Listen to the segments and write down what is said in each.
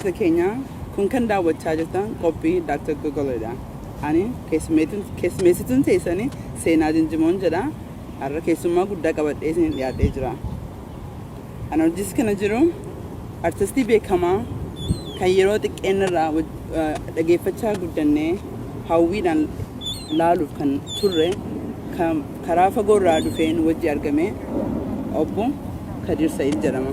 Daawwattoota keenya kun kan daawwachaa jirtan qophii Dr. Gogolo dha. Ani keessummeessituun teessan Seenaa Jinjimoon jedha. Har'a keessummaa guddaa qabadhee isiniif dhiyaadhee jira. Ana wajjiis kana jiru artistii beekamaa kan yeroo xiqqeenna irraa dhageeffachaa guddannee hawwiidhaan laaluuf kan turre karaa fagoo irraa dhufeen wajji argame obbo Kadiir Sa'iid jedhama.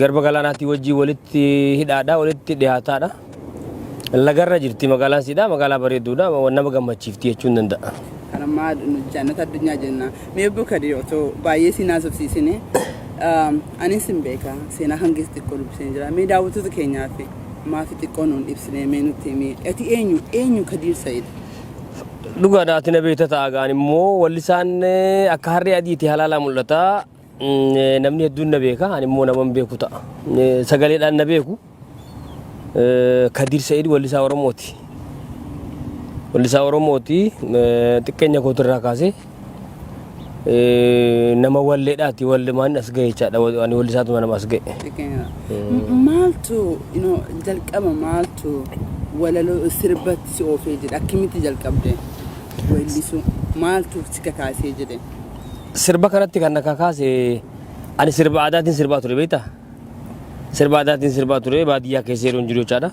Garba galaanaatii wajjin walitti hidhaadha, walitti dhiyaataadha. Lagarra jirti magaalaan siidha, magaalaa bareedduudha, nama gammachiifti jechuun danda'a. Kan ammaa jannata addunyaa jenna. Mee obbo Kadir otoo baay'ee siin haasofsiisine anis hin beeka seenaa kan keessa xiqqoo dubbiseen jira. Mee daawwattoota keenyaaf maafi xiqqoo nuun ibsine mee nutti himi. Ati eenyu eenyu Kadir Said? Dhugaadha ati na beekta ta'a gahaan immoo wallisaan akka harree adiiti halaalaa mul'ata. Namni hedduun na beeka, ani immoo naman beeku ta'a. Sagaleedhaan na beeku. Kadiir Sa'id wallisaa Oromooti. Wallisaa Oromooti xiqqeenya kootirraa kaasee nama walleedhaati wallimaan as ga'e jechaadha. Ani wallisaatuma nama as ga'e. Maaltu jalqaba maaltu walaloo sirbatti si oofee jedhe akkamitti jalqabde weellisuu maaltu si kakaasee jedhe. Sirba kanatti kan na kakaase ani sirba aadaatiin sirbaa ture beektaa? Sirba aadaatiin sirbaa ture baadiyyaa keessa yeroo hin jiru jechaadha.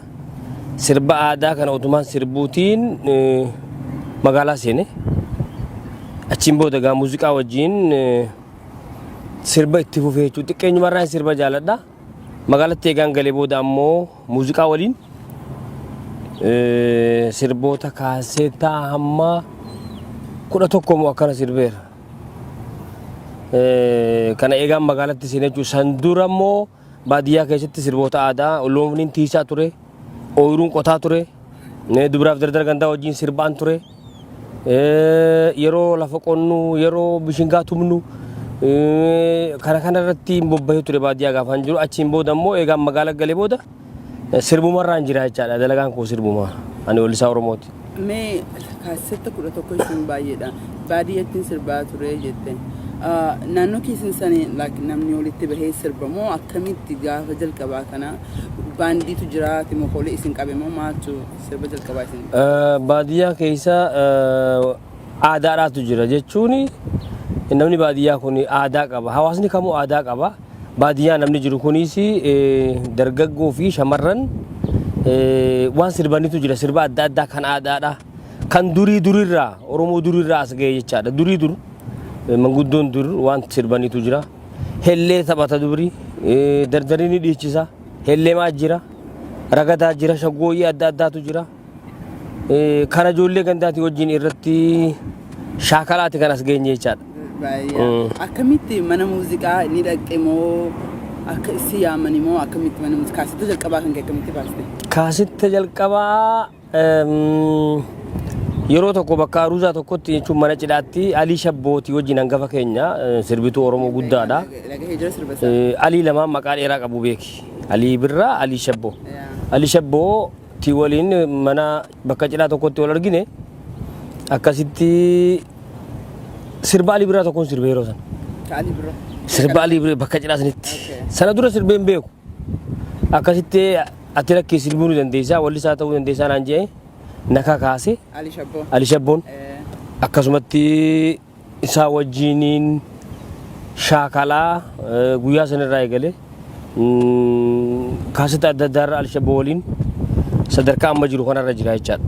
Sirba aadaa kana utumaan sirbuutiin eh, magaalaa seene. Achiin booda egaa muuziqaa wajjin eh, sirba itti fufee jechuudha. Xiqqeenyumarraa sirba jaaladha. Magaalatti eegaan galee booda ammoo muuziqaa waliin sirboota kaaseetaa hamma kudha tokko moo akkana sirbeera. Kana eegaan magaalatti seenee jechuudha. San dura immoo baadiyyaa keessatti sirboota aadaa looniin tiisaa ture, ooyiruun qotaa ture, dubaraaf dardara gandaa wajjin sirbaan ture. yeroo lafa qonnu yeroo bishingaa tumnu kana kana irratti bobbahee ture baadiyyaa gaafaan jiru achiin booda immoo eegaan magaala galee booda sirbuma irraan jira jechaadha dalagaan koo sirbuma ani weellisaa oromooti. Mee kaasetta kudha tokko isin baay'eedha baadiyyattiin sirbaa ture jette naannoo keessan sanii namni walitti bahee sirba moo akkamitti gaafa jalqabaa kana baandiitu jira timokoolee isin qabe moo maaltu Sirba jalqabaa isin. Eh, Baadiyyaa keessa eh, aadaadhaatu jira jechuun namni baadiyyaa kun aadaa qaba. Hawaasni kamuu aadaa qaba. Baadiyyaa namni jiru kunis eh, dargaggoo fi shamarran eh, waan sirbanitu jira. Sirba adda addaa kan aadaadha. Kan durii durirraa Oromoo durirraa as ga'e jechaadha. Durii dur eh, manguddoon dur waan sirbanitu jira. Hellee taphata dubri. Eh, Dardarii ni dhiichisa. Hellemaa jira, ragadaa jira, shaggooyyii adda addaatu jira. Kana ijoollee gandaatii wajjin irratti shaakalaati kan as geenye jechaadha. Baay'ee. Akkamitti mana muuziqaa ni dhaqxe moo akka issi yaamani moo akkamitti mana muuziqaa kaasetta jalqabaa kan kee akkamitti baaste? Kaasitta jalqabaa Yeroo tokko bakka Aruuzaa tokkotti jechuun mana cidhaatti Alii Shabbooti wajjin hangafa keenya sirbituu Oromoo guddaadha. Alii lamaan maqaa dheeraa qabu beeki. Alii Birraa, Alii Shabboo. Alii Shabboo ti waliin mana bakka cidhaa tokkotti wal argine akkasitti sirba Alii Birraa tokkoon sirbe yeroo sana. Sirba Alii Birraa bakka cidhaa sanitti. Sana dura sirbeen beeku. akkasitti ati rakkee sirbuu ni dandeessaa wallisaa ta'uu dandeessaa naan jedhee na kakaase Ali Shabboo. Ali Shabboon Eh, akkasumatti isaa wajjiniin shaakalaa eh, guyyaa sanarraa eegale kaasita adda addaarra Ali Shabboo waliin sadarkaa amma jiru kanarra jira jechaadha.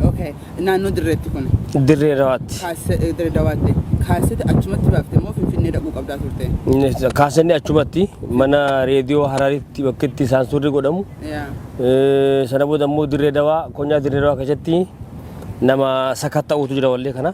Okay. Naannoo Dirreetti kun. Dirree Dawaatti. Kaase- eh, Dirree Dawaatti. Kaasete achumatti baafte moo Finfinnee dhaquu qabdaa turte? Kaasanni achumatti mana reediyoo Hararitti bakka itti isaan suurri godhamu. Yaa. Eh, Sana booda immoo Dirree Dawaa, Konyaa Dirree Dawaa keessatti nama sakatta'uutu jira wallee kana.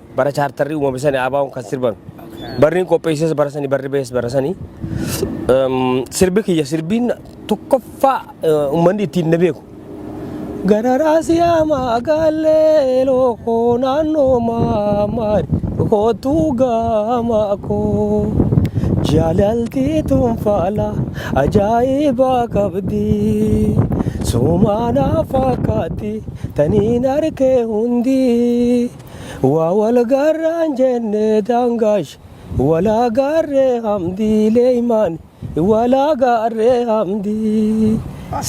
Bara chaartarri uumame sani ABOn kan sirban. Barriin qopheesses bara sani barri ba'es bara sani. Ehm, Sirbi kiyya sirbiin tokkoffaa eh, uummanni ittiin na beeku. Gararaa siyaamaa gaallee lookoo naannoo maamaari kootuu gaamaa koo. Jaalaltii tunfaala ajaa'ibaa qabdi. Sumaanaa fakkaatti taniin harkee hundi. Waa wal gaarraan jenne daangaash walaa gaarree hamdii leeymaan walaa gaarree hamdii.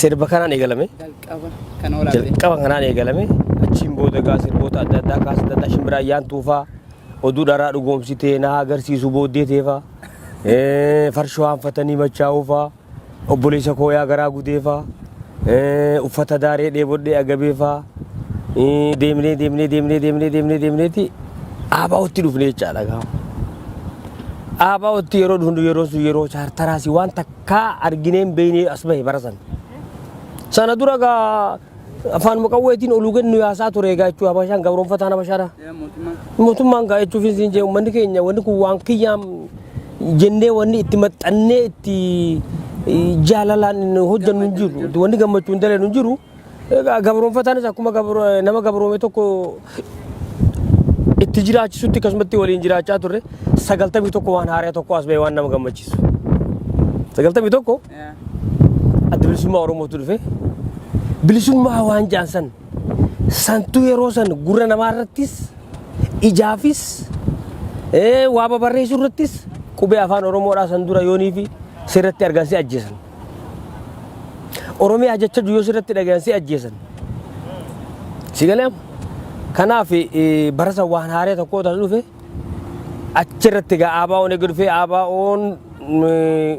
Sirba kanaan eegalame. Jalqaba kan waraabde. Jalqaba kanaan eegalame. Achiin booda egaa sirboota adda addaa kaasa adda addaa shimbiraa yaantuu faa oduu dharaa dhugoomsitee na agarsiisu booddee teefaa farshoo hanfatanii machaa'uu faa. Obboleessa koo yaa garaa gudeefaa eh, uffata daaree dheebodhee agabeefaa eh, deemnee deemnee deemnee deemnee deemnee deemneeti aabaa'otti dhufne jechaadha gaama. Aabaa'otti yeroo dhufnu yeroo sun yeroo chaartaraasi waan takkaa arginee hin beekne as bahe bara sana. Sana dura gaa Afaanuma qawweetiin oluu gad nu yaasaa ture egaa jechuudha Habashaan gabroonfataan Habashaadha. Mootummaan gaa jechuuf isin jee uummanni keenya wanni kun waan kiyyaam jennee wanni itti maxxannee itti jaalalaan hojjennu hin jiru wanni gammachuu hin dalee hin jiru. Egaa gabroonfataanis akkuma nama gabroome tokko itti jiraachisutti akkasumatti waliin jiraachaa turre sagaltamii tokko waan haaraa tokko as ba'e waan nama gammachiisu. Sagaltamii tokko adda bilisummaa Oromootu dhufe. Bilisummaa waan jaan san santu yeroo san gurra namaa irrattis ijaafis ee, waa babarreessuu irrattis qubee afaan Oromoodhaa san dura yoonii fi sirratti argan si ajjeesan. Oromiyaa jecha yoo sirratti dhagayan si ajjeesan. Si galeem? Kanaaf eh, bara san waan haaree tokkoo taas dhufe achirratti gaa ABO'n eega dhufee ABO'n eh,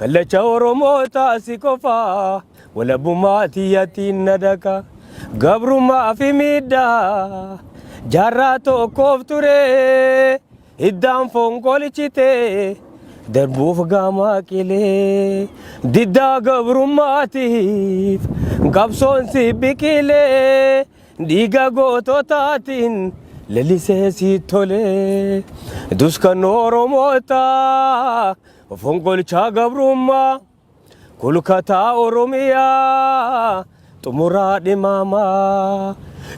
Kallacha Oromoota si qofa walabummaa tiyyatiin na daka gabrummaa fi miidhaa jaarraa tokkoof ture hiddaan fonqolichite darbuuf gaamaa qilee diddaa gabrummaatiif qabsoon si biqilee dhiiga goototaatiin lalisee si tole duskan Oromoota Fonqolchaa gabrummaa kulkataa Oromiyaa xumuraa dhimaamaa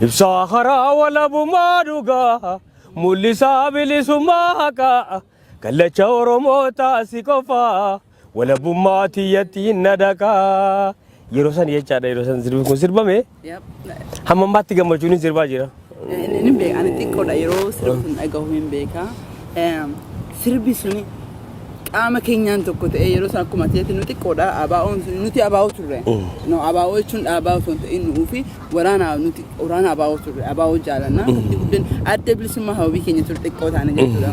ibsaa karaa walabumaa dhugaa mul'isaa bilisummaa haqaa kallacha Oromoo taasi qofaa walabummaa tiyyattiin na dhaqaa Yeroo san jechaadha yeroo san sirbi kun sirbame Yep. hamma ammaatti gammachuun hin sirbaa jira. Inni hin beeku. Ani xiqqoodha yeroo sirbi kun dhagahu hin beeka. Eem, Sirbi suni qaama keenyaan tokko ta'ee yeroo sana akkuma ta'etti nu xiqqoodha. Abaa'oon sun nuti abaa'oo turre. No abaa'oo jechuun dhaabaa osoo hin ta'in nu'uu fi waraana nuti waraana abaa'oo turre. Abaa'oo jaalanna. Nuti guddin adda bilisummaa hawwii keenya ture xiqqoo taane jechuudha.